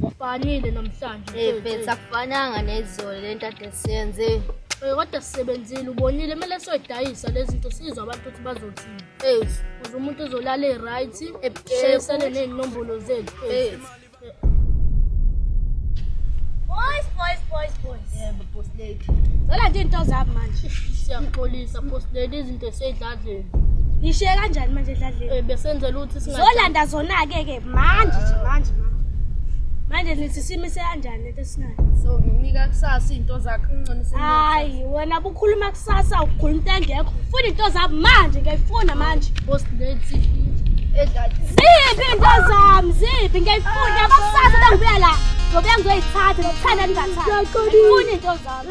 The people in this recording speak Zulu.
Kufanile namhlanje. Eh mfethu akufananga nezolo lento ade siyenze. Eh kodwa sisebenzile ubonile kumele soyidayisa lezi zinto sizwe abantu ukuthi bazothini. Eh uze umuntu ezolala e-right, eh, shayisane nezinombolo zethu. Eh Boys, boys, boys, boys. Yebo boss lady. Zola nje into zami manje. Siyaxolisa boss lady izinto esedladleni. Ngishiye kanjani manje edladleni? Eh besenzela ukuthi singa Zolanda zona ke ke manje nje manje manje. Manje nithi simise kanjani lento esinayo? So nginika kusasa izinto zakhe unconisile. Hayi wena bukhuluma Sasa ugula into engekho. Funa into zami manje ngiyayifuna manje. Boss Nancy edlala. Ziphi into zami? Ziphi ngiyayifuna akusasa bengibuya la. Ngoba ngizoyithatha nokuthanda ningathathi. Ngifuna into zami.